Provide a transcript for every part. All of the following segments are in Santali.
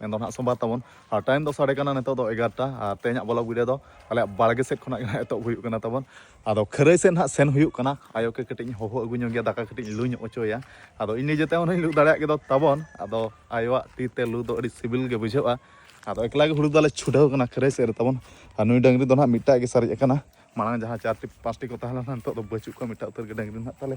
ᱢᱮᱱᱫᱚ ᱱᱟᱦᱟᱜ ᱥᱳᱢᱵᱟᱨ ᱛᱟᱵᱚᱱ ᱟᱨ ᱴᱟᱭᱤᱢ ᱫᱚ ᱥᱟᱰᱮ ᱠᱟᱱᱟ ᱱᱤᱛᱚᱜ ᱫᱚ ᱮᱜᱟᱨᱚᱴᱟ ᱟᱨ ᱛᱮᱦᱮᱧᱟᱜ ᱵᱚᱞᱚᱜ ᱵᱷᱤᱰᱤᱭᱳ ᱫᱚ ᱟᱞᱮᱭᱟᱜ ᱵᱟᱲᱜᱮ ᱥᱮᱫ ᱠᱷᱚᱱᱟᱜ ᱜᱮ ᱱᱟᱦᱟᱜ ᱮᱛᱚᱦᱚᱵ ᱦᱩᱭᱩᱜ ᱠᱟᱱᱟ ᱛᱟᱵᱚᱱ ᱟᱫᱚ ᱠᱷᱟᱹᱨᱟᱹᱭ ᱥᱮᱫ ᱱᱟᱦᱟᱜ ᱥᱮᱱ ᱦᱩᱭᱩᱜ ᱠᱟᱱᱟ ᱟᱭᱳ ᱠᱮ ᱠᱟᱹᱴᱤᱡ ᱤᱧ ᱦᱚᱦᱚ ᱟᱹᱜᱩ ᱧᱚᱜ ᱜᱮᱭᱟ ᱫᱟᱠᱟ ᱠᱟᱹᱴᱤᱡ ᱞᱩ ᱧᱚᱜ ᱚᱪᱚᱭᱟ ᱟᱫᱚ ᱤᱧ ᱱᱤᱡᱮ ᱛᱮᱦᱚᱸ ᱞᱩ ᱫᱟᱲᱮᱭᱟᱜ ᱜᱮᱫᱚ ᱛᱟᱵᱚᱱ ᱟᱫᱚ ᱟᱭᱳᱣᱟᱜ ᱛᱤ ᱛᱮ ᱞᱩ ᱫᱚ ᱟᱹᱰᱤ ᱥᱤᱵᱤᱞ ᱜᱮ ᱵᱩᱡᱷᱟᱹᱜᱼᱟ ᱟᱫᱚ ᱮᱠᱞᱟ ᱜᱮ ᱦᱩᱲᱩ ᱫᱟᱞᱮ ᱪᱷᱩᱰᱟᱹᱣ ᱠᱟᱱᱟ ᱠᱷᱟᱹᱨᱟᱹᱭ ᱥᱮᱫ ᱨᱮ ᱛᱟᱵᱚᱱ ᱟᱨ ᱱᱩᱭ ᱰᱟᱹᱝᱨᱤ ᱫᱚ ᱱᱟᱦᱟᱜ ᱢᱤᱫᱴᱟᱜ ᱜᱮ ᱥᱟᱨᱮᱡ ᱟᱠᱟᱱᱟ ᱢᱟᱲᱟᱝ ᱡᱟᱦᱟᱸ ᱪᱟᱨᱴᱤ ᱯᱟᱸᱪᱴᱤ ᱠᱚ ᱛᱟᱦᱮᱸ ᱞᱮᱱᱟ ᱱᱤᱛᱚᱜ ᱫᱚ ᱵᱟᱹᱪᱩᱜ ᱠᱚᱣᱟ ᱢᱤᱫᱴᱟᱜ ᱩᱛᱟᱹᱨ ᱜᱮ ᱰᱟᱹᱝᱨᱤ ᱱᱟᱦᱟᱜ ᱛᱟᱞᱮ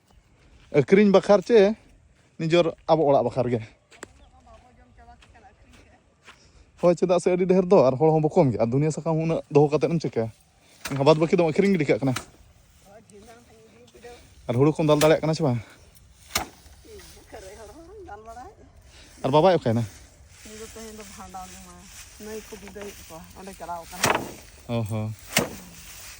ᱟᱹᱠᱷᱨᱤᱧ ᱵᱟᱠᱷᱟᱨ ᱪᱮ ᱱᱤᱡᱚᱨ ᱟᱵᱚ ᱚᱲᱟᱜ ᱵᱟᱠᱷᱟᱨ ᱜᱮ ᱦᱳᱭ ᱪᱮᱫᱟᱜ ᱥᱮ ᱟᱹᱰᱤ ᱰᱷᱮᱨ ᱫᱚ ᱟᱨ ᱦᱚᱲ ᱦᱚᱸ ᱵᱚᱠᱚᱢ ᱜᱮᱭᱟ ᱫᱩᱱᱤᱭᱟᱹ ᱥᱟᱠᱟᱢ ᱦᱚᱸ ᱩᱱᱟᱹᱜ ᱫᱚᱦᱚ ᱠᱟᱛᱮᱫ ᱮᱢ ᱪᱤᱠᱟᱹᱭᱟ ᱮᱱᱠᱷᱟᱱ ᱵᱟᱫ ᱵᱟᱹᱠᱤ ᱫᱚᱢ ᱟᱹᱠᱷᱨᱤᱧ ᱜᱤᱰᱤ ᱠᱟᱜ ᱠᱟᱱᱟ ᱟᱨ ᱦᱩᱲᱩ ᱠᱚᱢ ᱫᱟᱞ ᱫᱟᱲᱮᱭᱟᱜ ᱠᱟᱱᱟ ᱥᱮ ᱵᱟᱝ ᱟᱨ ᱵᱟᱵᱟᱭ ᱚᱠᱟᱭᱮᱱᱟ ᱱᱟᱹᱭ ᱠᱚ ᱵᱤᱫᱟᱹᱭᱮᱫ ᱠᱚᱣᱟ ᱚᱸᱰᱮ ᱪᱟᱞᱟᱣ ᱠᱟᱱᱟ ᱚ ᱦᱚᱸ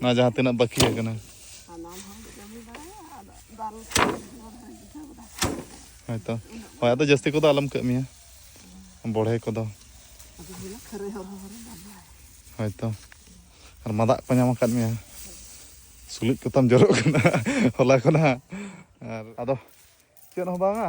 ᱱᱚᱣᱟ ᱡᱟᱦᱟᱸ ᱛᱤᱱᱟᱹᱜ ᱵᱟᱹᱠᱤ ᱟᱠᱟᱱᱟ ᱦᱳᱭᱛᱚ ᱦᱳᱭ ᱟᱫᱚ ᱡᱟᱹᱥᱛᱤ ᱠᱚᱫᱚ ᱟᱞᱚᱢ ᱠᱟᱹᱢᱤᱭᱟ ᱵᱚᱲᱦᱮ ᱠᱚᱫᱚ ᱦᱳᱭᱛᱚ ᱟᱨ ᱢᱟᱫᱟᱜ ᱠᱚ ᱧᱟᱢ ᱟᱠᱟᱫ ᱢᱮᱭᱟ ᱥᱩᱞᱩᱡ ᱠᱚᱛᱟᱢ ᱡᱚᱨᱚᱜ ᱠᱟᱱᱟ ᱦᱚᱞᱟ ᱠᱷᱚᱱᱟᱜ ᱟᱨ ᱟᱫᱚ ᱪᱮᱫ ᱦᱚᱸ ᱵᱟᱝᱟ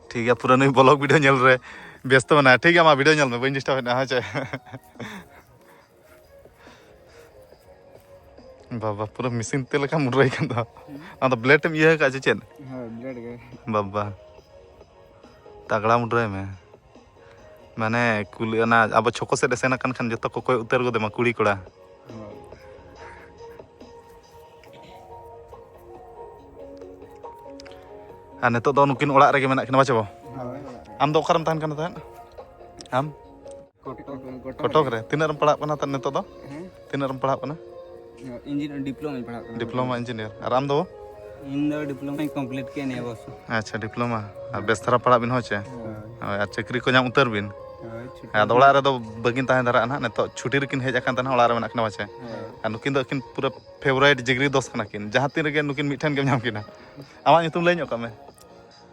ᱴᱷᱤᱠ ᱜᱮᱭᱟ ᱯᱩᱨᱟᱹ ᱱᱩᱭ ᱵᱞᱚᱜ ᱵᱷᱤᱰᱤᱭᱳ ᱧᱮᱞ ᱨᱮ ᱵᱮᱥᱛᱚ ᱢᱮᱱᱟᱭᱟ ᱴᱷᱤᱠ ᱜᱮᱭᱟ ᱢᱟ ᱵᱷᱤᱰᱤᱭᱳ ᱧᱮᱞ ᱢᱮ ᱵᱟᱹᱧ ᱰᱤᱥᱴᱟᱵ ᱮᱫᱟ ᱦᱮᱸ ᱪᱮ ᱵᱟᱵᱟ ᱯᱩᱨᱟᱹ ᱢᱮᱥᱤᱱ ᱛᱮ ᱞᱮᱠᱟ ᱢᱩᱰᱨᱟᱹᱭ ᱠᱟᱱ ᱫᱚ ᱟᱫᱚ ᱵᱞᱮᱰ ᱮᱢ ᱤᱭᱟᱹ ᱟᱠᱟᱫ ᱪᱮ ᱪᱮᱫ ᱵᱟᱵᱟ ᱛᱟᱜᱲᱟ ᱢᱩᱰᱨᱟᱹᱭ ᱢᱮ ᱢᱟᱱᱮ ᱠᱩᱞᱤ ᱚᱱᱟ ᱟᱵᱚ ᱪᱷᱚᱠᱚ ᱥᱮᱫ ᱮ ᱥᱮᱱ ᱟᱠᱟᱱ ᱠᱷᱟᱱ ᱡᱚᱛᱚ ᱠᱚ ᱠᱚᱭ ᱩᱛᱟᱹᱨ ᱜᱚᱫᱮᱢᱟ ᱠᱩᱲᱤ ᱠᱚᱲᱟ ᱟᱨ ᱱᱤᱛᱚᱜ ᱫᱚ ᱱᱩᱠᱤᱱ ᱚᱲᱟᱜ ᱨᱮᱜᱮ ᱢᱮᱱᱟᱜ ᱠᱤᱱᱟ ᱵᱟᱪᱚ ᱟᱢ ᱫᱚ ᱚᱠᱟᱨᱮᱢ ᱛᱟᱦᱮᱱ ᱠᱟᱱᱟ ᱛᱟᱦᱮᱸᱫ ᱟᱢ ᱠᱚᱴᱚᱠ ᱨᱮ ᱛᱤᱱᱟᱹᱜ ᱨᱮᱢ ᱯᱟᱲᱦᱟᱜ ᱠᱟᱱᱟ ᱱᱤᱛᱚᱜ ᱫᱚ ᱛᱤᱱᱟᱹᱜ ᱨᱮᱢ ᱯᱟᱲᱦᱟᱜ ᱠᱟᱱᱟ ᱤᱧᱡᱤᱱᱤᱭᱟᱨ ᱰᱤᱯᱞᱳᱢᱟᱧ ᱯᱟᱲᱦᱟᱜ ᱠᱟᱱᱟ ᱰᱤᱯᱞᱳᱢᱟ ᱤᱧᱡᱤᱱᱤᱭᱟᱨ ᱟᱨ ᱟᱢ ᱫᱚ ᱤᱧ ᱫᱚ ᱰᱤᱯᱞᱳᱢᱟᱧ ᱠᱚᱢᱯᱞᱤᱴ ᱠᱮᱫ ᱱᱤᱭᱟᱹ ᱵᱚᱪᱷᱚᱨ ᱟᱪᱪᱷᱟ ᱰᱤᱯᱞᱳᱢᱟ ᱟᱨ ᱵᱮᱥ ᱫᱷᱟᱨᱟ ᱯᱟᱲᱦᱟᱜ ᱵᱤᱱ ᱦᱳᱭ ᱪᱮ ᱦᱳᱭ ᱟᱨ ᱪᱟᱹᱠᱨᱤ ᱠᱚ ᱧᱟᱢ ᱩᱛᱟᱹᱨ ᱵᱤᱱ ᱟᱫᱚ ᱚᱲᱟᱜ ᱨᱮᱫᱚ ᱵᱟᱹᱜᱤᱱ ᱛᱟᱦᱮᱸ ᱫᱷᱟᱨᱟᱜᱼᱟ ᱱᱟᱦᱟᱜ ᱱᱤᱛᱚᱜ ᱪᱷᱩᱴᱤ ᱨᱮᱠᱤᱱ ᱦᱮᱡ ᱟᱠᱟᱱ ᱛᱟᱦᱮᱱᱟ ᱚᱲᱟᱜ ᱨᱮ ᱢᱮᱱᱟᱜ ᱠᱤᱱᱟ ᱯᱟᱪᱮ ᱟᱨ ᱱᱩᱠᱤᱱ ᱫᱚ ᱟᱹᱠᱤᱱ ᱯᱩᱨᱟᱹ ᱯᱷᱮᱵᱚᱨᱟᱭᱤᱴ ᱡᱤᱜᱽᱨᱤ ᱫᱚᱥ ᱠᱟᱱᱟ ᱠᱤᱱ ᱡᱟᱦᱟᱸ ᱛᱤᱱ ᱨᱮᱜᱮ ᱱᱩᱠᱤᱱ ᱢᱤᱫᱴᱷᱮᱱ ᱜᱮᱢ ᱧᱟᱢ ᱠᱤᱱᱟ ᱟᱢᱟᱜ ᱧᱩᱛᱩᱢ ᱞᱟᱹᱭ ᱧᱚᱜ ᱠᱟᱜ ᱢᱮ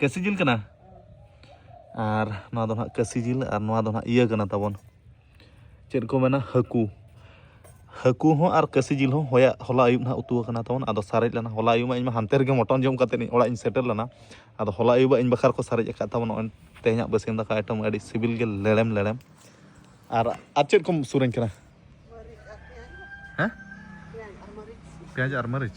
ᱠᱟᱹᱥᱤ ᱡᱤᱞ ᱠᱟᱱᱟ ᱟᱨ ᱱᱚᱣᱟ ᱫᱚ ᱱᱟᱦᱟᱜ ᱠᱟᱹᱥᱤ ᱡᱤᱞ ᱟᱨ ᱱᱚᱣᱟ ᱫᱚ ᱱᱟᱦᱟᱜ ᱤᱭᱟᱹ ᱠᱟᱱᱟ ᱛᱟᱵᱚᱱ ᱪᱮᱫ ᱠᱚ ᱢᱮᱱᱟ ᱦᱟᱹᱠᱩ ᱦᱟᱹᱠᱩ ᱦᱚᱸ ᱟᱨ ᱠᱟᱹᱥᱤ ᱡᱤᱞ ᱦᱚᱸ ᱦᱚᱭᱟᱜ ᱦᱚᱞᱟ ᱟᱹᱭᱩᱵ ᱱᱟᱦᱟᱜ ᱩᱛᱩ ᱟᱠᱟᱱᱟ ᱛᱟᱵᱚᱱ ᱟᱫᱚ ᱥᱟᱨᱮᱡ ᱞᱮᱱᱟ ᱦᱚᱞᱟ ᱟᱹᱭᱩᱵ ᱢᱟ ᱤᱧ ᱢᱟ ᱦᱟᱱᱛᱮ ᱨᱮᱜᱮ ᱢᱚᱴᱚᱱ ᱡᱚᱢ ᱠᱟᱛᱮ ᱤᱧ ᱚᱲᱟᱜ ᱤᱧ ᱥᱮᱴᱮᱨ ᱞᱮᱱᱟ ᱟᱫᱚ ᱦᱚᱞᱟ ᱟᱹᱭᱩᱵ ᱤᱧ ᱵᱟᱠᱷᱨᱟ ᱠᱚ ᱥᱟᱨᱮᱡ ᱟᱠᱟᱫ ᱛᱟᱵᱚᱱ ᱱᱚᱜᱼᱚᱭ ᱛᱮᱦᱮᱧᱟᱜ ᱵᱟᱹᱥᱭᱟᱹᱢ ᱫᱟᱠᱟ ᱟᱭᱴᱮᱢ ᱟᱹᱰᱤ ᱥᱤᱵᱤᱞ ᱜᱮ ᱞᱮᱲᱮᱢ ᱞᱮᱲᱮᱢ ᱟᱨ ᱟᱨ ᱪᱮᱫ ᱠᱚᱢ ᱥᱩᱨᱟᱹᱧ ᱠᱟᱱᱟ ᱦᱮᱸ ᱯᱮᱸᱭᱟᱡᱽ ᱟᱨ ᱢᱟᱹᱨᱤᱪ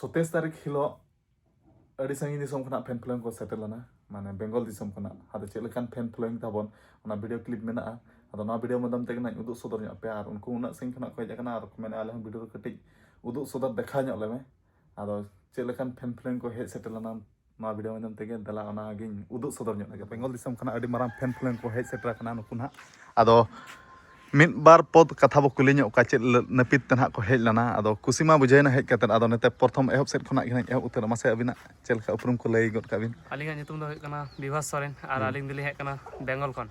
ᱥᱚᱛᱮᱥ ᱛᱟᱹᱨᱤᱠᱷ ᱦᱤᱞᱳᱜ ᱟᱹᱰᱤ ᱥᱟᱺᱜᱤᱧ ᱫᱤᱥᱚᱢ ᱠᱷᱚᱱᱟᱜ ᱯᱷᱮᱱ ᱯᱷᱞᱳᱭᱤᱝ ᱠᱚ ᱥᱮᱴᱮᱨ ᱞᱮᱱᱟ ᱢᱟᱱᱮ ᱵᱮᱝᱜᱚᱞ ᱫᱤᱥᱚᱢ ᱠᱷᱚᱱᱟᱜ ᱟᱫᱚ ᱪᱮᱫ ᱞᱮᱠᱟᱱ ᱯᱷᱮᱱ ᱯᱷᱞᱳᱭᱤᱝ ᱛᱟᱵᱚᱱ ᱚᱱᱟ ᱵᱷᱤᱰᱤᱭᱳ ᱠᱞᱤᱯ ᱢᱮᱱᱟᱜᱼᱟ ᱟᱫᱚ ᱱᱚᱣᱟ ᱵᱷᱤᱰᱤᱭᱳ ᱢᱟᱫᱽᱫᱷᱚᱢ ᱛᱮᱜᱮ ᱱᱟᱜ ᱩᱫᱩᱜ ᱥᱚᱫᱚᱨ ᱧᱚᱜ ᱯᱮᱭᱟ ᱟᱨ ᱩᱱᱠᱩ ᱩᱱᱟᱹᱜ ᱥᱟᱺᱜᱤᱧ ᱠᱷᱚᱱᱟᱜ ᱠᱚ ᱦᱮᱡ ᱟᱠᱟᱱᱟ ᱟᱨ ᱠᱚ ᱢᱮᱱᱟ ᱟᱞᱮ ᱦᱚᱸ ᱵᱷᱤᱰᱤᱭᱳ ᱨᱮ ᱠᱟᱹᱴᱤᱡ ᱩᱫᱩᱜ ᱥᱚᱫᱚᱨ ᱫᱮᱠᱷᱟᱣ ᱧᱚᱜ ᱞᱮᱢᱮ ᱟᱫᱚ ᱪᱮᱫ ᱞᱮᱠᱟᱱ ᱯᱷᱮᱱ ᱯᱷᱞᱳᱭᱤᱝ ᱠᱚ ᱦᱮᱡ ᱥᱮᱴᱮᱨ ᱞᱮᱱᱟ ᱱᱚᱣᱟ ᱵᱷᱤᱰᱤᱭᱳ ᱢᱟᱫᱽᱫᱷᱚᱢ ᱛᱮᱜᱮ ᱫᱮᱞᱟ ᱚᱱᱟᱜᱤᱧ ᱩᱫᱩᱜ ᱥᱚᱫᱚᱨ ᱧᱚᱜ ᱞᱮᱜᱮ ᱵᱮᱝᱜᱚᱞ ᱫᱤᱥᱚᱢ ᱠᱷᱚᱱᱟᱜ ᱟᱹᱰᱤ ᱢᱟᱨᱟᱝ ᱯᱷᱮᱱ ᱯᱷᱞᱮᱱ ᱠᱚ ᱦᱮᱡ ᱥᱮᱴᱮᱨ ᱟᱠᱟᱱᱟ ᱱᱩᱠᱩ ᱱᱟᱦᱟᱜ ᱟᱫᱚ ᱢᱤᱫ ᱵᱟᱨ ᱯᱚᱫ ᱠᱟᱛᱷᱟ ᱵᱚ ᱠᱩᱞᱤ ᱧᱚᱜ ᱠᱚᱣᱟ ᱪᱮᱫ ᱱᱟᱹᱯᱤᱛ ᱛᱮ ᱱᱟᱦᱟᱜ ᱠᱚ ᱦᱮᱡ ᱞᱮᱱᱟ ᱟᱫᱚ ᱠᱩᱥᱤ ᱢᱟ ᱵᱩᱡᱷᱟᱹᱣᱮᱱᱟ ᱦᱮᱡ ᱠᱟᱛᱮᱫ ᱟᱫᱚ ᱱᱤᱛᱚᱜ ᱯᱨᱚᱛᱷᱚᱢ ᱮᱦᱚᱵ ᱥᱮᱫ ᱠᱷᱚᱱᱟᱜ ᱜᱮ ᱮᱦᱚᱵ ᱩᱛᱟᱹᱨ ᱢᱟᱥᱮ ᱟᱹᱵᱤᱱᱟᱜ ᱪᱮᱫ ᱞᱮᱠᱟ ᱩᱯᱨᱩᱢ ᱠᱚ ᱞᱟᱹᱭ ᱜᱚᱫ ᱠᱟᱜ ᱵᱤᱱ ᱟᱹᱞᱤᱧᱟᱜ ᱧᱩᱛᱩᱢ ᱫᱚ ᱦᱩᱭᱩᱜ ᱠᱟᱱᱟ ᱵᱤᱵᱷᱟᱥ ᱥᱚᱨᱮᱱ ᱟᱨ ᱟᱹᱞᱤᱧ ᱫᱚᱞᱤᱧ ᱦᱮᱡ ᱠᱟᱱᱟ ᱵᱮᱝᱜᱚᱞ ᱠᱷᱚᱱ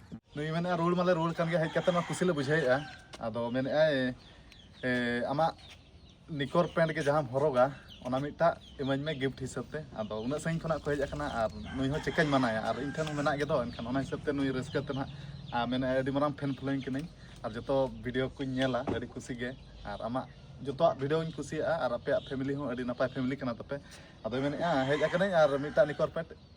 ᱱᱩᱭ ᱢᱮᱱᱮᱫᱼᱟ ᱨᱩᱣᱟᱹᱲ ᱢᱟᱞᱮ ᱨᱩᱣᱟᱹᱲ ᱠᱟᱱ ᱜᱮ ᱦᱮᱡ ᱠᱟᱛᱮ ᱢᱟ ᱠᱩᱥᱤ ᱞᱮ ᱵᱩᱡᱷᱟᱹᱣᱮᱫᱼᱟ ᱟᱫᱚ ᱢᱮᱱᱮᱫᱼᱟᱭ ᱟᱢᱟᱜ ᱱᱤᱠᱚᱨ ᱯᱮᱱᱴ ᱜᱮ ᱡᱟᱦᱟᱸᱢ ᱦᱚᱨᱚᱜᱟ ᱚᱱᱟ ᱢᱤᱫᱴᱟᱜ ᱤᱢᱟᱹᱧ ᱢᱮ ᱜᱤᱯᱷᱴ ᱦᱤᱥᱟᱹᱵ ᱛᱮ ᱟᱫᱚ ᱩᱱᱟᱹᱜ ᱥᱟᱺᱜᱤᱧ ᱠᱷᱚᱱᱟᱜ ᱠᱚ ᱦᱮᱡ ᱟᱠᱟᱱᱟ ᱟᱨ ᱱᱩᱭ ᱦᱚᱸ ᱪᱮᱠᱟᱧ ᱢᱟᱱᱟᱭᱟ ᱟᱨ ᱤᱧ ᱴᱷᱮᱱ ᱦᱚᱸ ᱢᱮᱱᱟᱜ ᱜᱮᱫᱚ ᱮᱱᱠᱷᱟᱱ ᱚᱱᱟ ᱦᱤᱥᱟᱹᱵ ᱛᱮ ᱱᱩᱭ ᱨᱟᱹᱥᱠᱟᱹ ᱛᱮ ᱱᱟᱜ ᱟᱨ ᱢᱮᱱᱮᱫᱼᱟᱭ ᱟᱹᱰᱤ ᱢᱟᱨᱟᱝ ᱯᱷᱮᱱ ᱯᱷᱞᱳᱭᱤᱝ ᱠᱟᱹᱱᱟᱹᱧ ᱟᱨ ᱡᱚᱛᱚ ᱵᱷᱤᱰᱤᱭᱳ ᱠᱚᱧ ᱧᱮᱞᱟ ᱟᱹᱰᱤ ᱠᱩᱥᱤ ᱜᱮ ᱟᱨ ᱟᱢᱟᱜ ᱡᱚᱛᱚᱣᱟᱜ ᱵᱷᱤᱰᱤᱭᱳᱧ ᱠᱩᱥᱤᱭᱟᱜᱼᱟ ᱟᱨ ᱟᱯᱮᱭᱟᱜ ᱯᱷᱮᱢᱤᱞᱤ ᱦᱚᱸ ᱟᱹᱰᱤ ᱱᱟᱯᱟᱭ ᱯᱷᱮᱢᱤᱞᱤ ᱠᱟᱱᱟ ᱛᱟᱯᱮ ᱟᱫᱚᱭ ᱢᱮᱱᱮᱫᱼᱟ ᱦᱮᱡ ᱟᱠᱟᱱᱟᱹᱧ ᱟᱨ ᱢᱤᱫᱴᱟᱜ ᱱᱤᱠᱚᱨ ᱯᱮᱱᱴ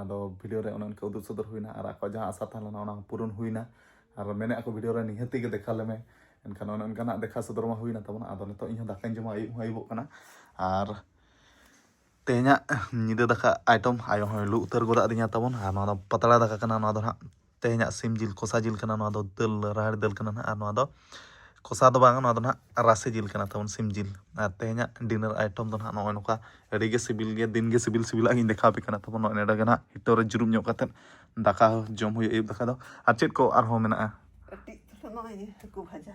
ᱟᱫᱚ ᱵᱷᱤᱰᱤᱭᱳ ᱨᱮ ᱚᱱᱮ ᱚᱱᱠᱟ ᱩᱫᱩᱜ ᱥᱚᱫᱚᱨ ᱦᱩᱭᱱᱟ ᱟᱨ ᱟᱠᱚᱣᱟᱜ ᱡᱟᱦᱟᱸ ᱟᱥᱟ ᱛᱟᱦᱮᱸ ᱞᱮᱱᱟ ᱚᱱᱟ ᱦᱚᱸ ᱯᱩᱨᱚᱱ ᱦᱩᱭᱱᱟ ᱟᱨ ᱢᱮᱱᱮᱫ ᱟᱠᱚ ᱵᱷᱤᱰᱤᱭᱳ ᱨᱮ ᱱᱤᱦᱟᱹᱛ ᱜᱮ ᱫᱮᱠᱷᱟ ᱞᱮᱢᱮ ᱮᱱᱠᱷᱟᱱ ᱚᱱᱮ ᱚᱱᱠᱟᱱᱟᱜ ᱫᱮᱠᱷᱟ ᱥᱚᱫᱚᱨ ᱢᱟ ᱦᱩᱭᱱᱟ ᱛᱟᱵᱚᱱᱟ ᱟᱫᱚ ᱱᱤᱛᱚᱜ ᱤᱧ ᱦᱚᱸ ᱫᱟᱠᱟᱧ ᱡᱚᱢᱟ ᱟᱹᱭᱩᱵ ᱦᱚᱸ ᱟᱹᱭᱩᱵᱚᱜ ᱠᱟᱱᱟ ᱟᱨ ᱛᱮᱦᱮᱧᱟᱜ ᱧᱤᱫᱟᱹ ᱫᱟᱠᱟ ᱟᱭᱴᱚᱢ ᱟᱭᱳ ᱦᱚᱸᱭ ᱞᱩ ᱩᱛᱟᱹᱨ ᱜᱚᱫ ᱟᱹᱫᱤᱧᱟ ᱛᱟᱵᱚᱱ ᱟᱨ ᱱᱚᱣᱟ ᱫᱚ ᱯᱟᱛᱲᱟ ᱫᱟᱠᱟ ᱠᱟᱱᱟ ᱱᱚᱣᱟ ᱫᱚ ᱦᱟᱸᱜ ᱛᱮᱦᱮᱧᱟᱜ ᱥᱤᱢ ᱡᱤᱞ ᱠᱚᱥᱟ ᱡᱤᱞ ᱠᱟᱱᱟ ᱱᱚᱣᱟ ᱫᱚ ᱫᱟᱹᱞ ᱨᱟᱦᱮᱲ ᱫᱟᱹᱞ ᱠᱟᱱᱟ ᱱᱟᱦᱟᱜ ᱟᱨ ᱱᱚᱣᱟ ᱫᱚ ᱠᱚᱥᱟ ᱫᱚ ᱵᱟᱝ ᱱᱚᱣᱟ ᱫᱚ ᱱᱟᱦᱟᱜ ᱨᱟᱥᱮ ᱡᱤᱞ ᱠᱟᱱᱟ ᱛᱟᱵᱚᱱ ᱥᱤᱢ ᱡᱤᱞ ᱟᱨ ᱛᱮᱦᱮᱧᱟᱜ ᱰᱤᱱᱟᱨ ᱟᱭᱴᱚᱢ ᱫᱚ ᱱᱟᱦᱟᱜ ᱱᱚᱜᱼᱚᱭ ᱱᱚᱝᱠᱟ ᱟᱹᱰᱤ ᱜᱮ ᱥᱤᱵᱤᱞ ᱜᱮᱭᱟ ᱫᱤᱱ ᱜᱮ ᱥᱤᱵᱤᱞ ᱥᱤᱵᱤᱞᱟᱜ ᱜᱤᱧ ᱫᱮᱠᱷᱟᱣ ᱟᱯᱮ ᱠᱟᱱᱟ ᱛᱟᱵᱚᱱ ᱱᱚᱜᱼᱚᱭ ᱱᱚᱰᱮ ᱜᱮ ᱱᱟᱦᱟᱜ ᱦᱤᱴᱚᱨ ᱨᱮ ᱡᱩᱨᱩᱢ ᱧᱚᱜ ᱠᱟᱛᱮᱫ ᱫᱟᱠᱟ ᱡᱚᱢ ᱦᱩᱭᱩᱜᱼᱟ ᱟᱹᱭᱩᱵ ᱫᱟᱠᱟ ᱫᱚ ᱟᱨ ᱪᱮᱫ ᱠᱚ ᱟᱨᱦᱚᱸ ᱢᱮᱱᱟᱜᱼᱟ ᱠᱟᱹᱴᱤᱡ ᱱᱚᱜᱼᱚᱭ ᱦᱟᱹᱠᱩ ᱵᱷᱟᱡᱟ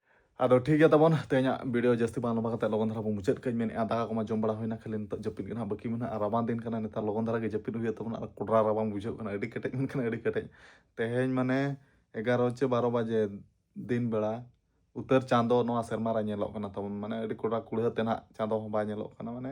ᱟᱫᱚ ᱴᱷᱤᱠ ᱜᱮᱭᱟ ᱛᱟᱵᱚᱱ ᱛᱮᱦᱮᱧᱟᱜ ᱵᱷᱤᱰᱤᱭᱳ ᱡᱟᱹᱥᱛᱤ ᱵᱟᱝ ᱞᱚᱢᱵᱟ ᱠᱟᱛᱮ ᱞᱚᱜᱚᱱ ᱫᱷᱟᱨᱟ ᱵᱚᱱ ᱢᱩᱪᱟᱹᱫ ᱠᱟᱹᱧ ᱢᱮᱱᱮᱫᱼᱟ ᱫᱟᱠᱟ ᱠᱚᱢᱟ ᱡᱚᱢ ᱵᱟᱲᱟ ᱦᱩᱭᱱᱟ ᱠᱷᱟᱹᱞᱤ ᱱᱤᱛᱚᱜ ᱡᱟᱹᱯᱤᱫ ᱜᱮ ᱱᱟᱦᱟᱜ ᱵᱟᱹᱠᱤ ᱢᱮᱱᱟᱜᱼᱟ ᱨᱟᱵᱟᱝ ᱫᱤᱱ ᱠᱟᱱᱟ ᱱᱮᱛᱟᱨ ᱞᱚᱜᱚᱱ ᱫᱷᱟᱨᱟ ᱜᱮ ᱡᱟᱹᱯᱤᱫ ᱦᱩᱭᱩᱜ ᱛᱟᱵᱚᱱᱟ ᱟᱨ ᱠᱚᱰᱨᱟ ᱨᱟᱵᱟᱝ ᱵᱩᱡᱷᱟᱹᱜ ᱠᱟᱱᱟ ᱟᱹᱰᱤ ᱠᱮᱴᱮᱡ ᱢᱮᱱᱠᱷᱟᱱ ᱟᱹᱰᱤ ᱠᱮᱴᱮᱡ ᱛᱮᱦᱮᱧ ᱢᱟᱱᱮ ᱮᱜᱟᱨᱚ ᱪᱮ ᱵᱟᱨᱚ ᱵᱟᱡᱮ ᱫᱤᱱ ᱵᱮᱲᱟ ᱩᱛᱟᱹᱨ ᱪᱟᱸᱫᱚ ᱱᱚᱣᱟ ᱥᱮᱨᱢᱟ ᱨᱮ ᱧᱮᱞᱚᱜ ᱠᱟᱱᱟ ᱛᱟᱵᱚᱱ ᱢᱟᱱᱮ ᱟᱹᱰᱤ ᱠᱚᱰᱨᱟ ᱠᱩᱲᱦᱟᱹ ᱛᱮ ᱱᱟᱦᱟᱜ ᱪᱟᱸᱫᱚ ᱦᱚᱸ ᱵᱟᱭ ᱧᱮᱞᱚᱜ ᱠᱟᱱᱟ ᱢᱟᱱᱮ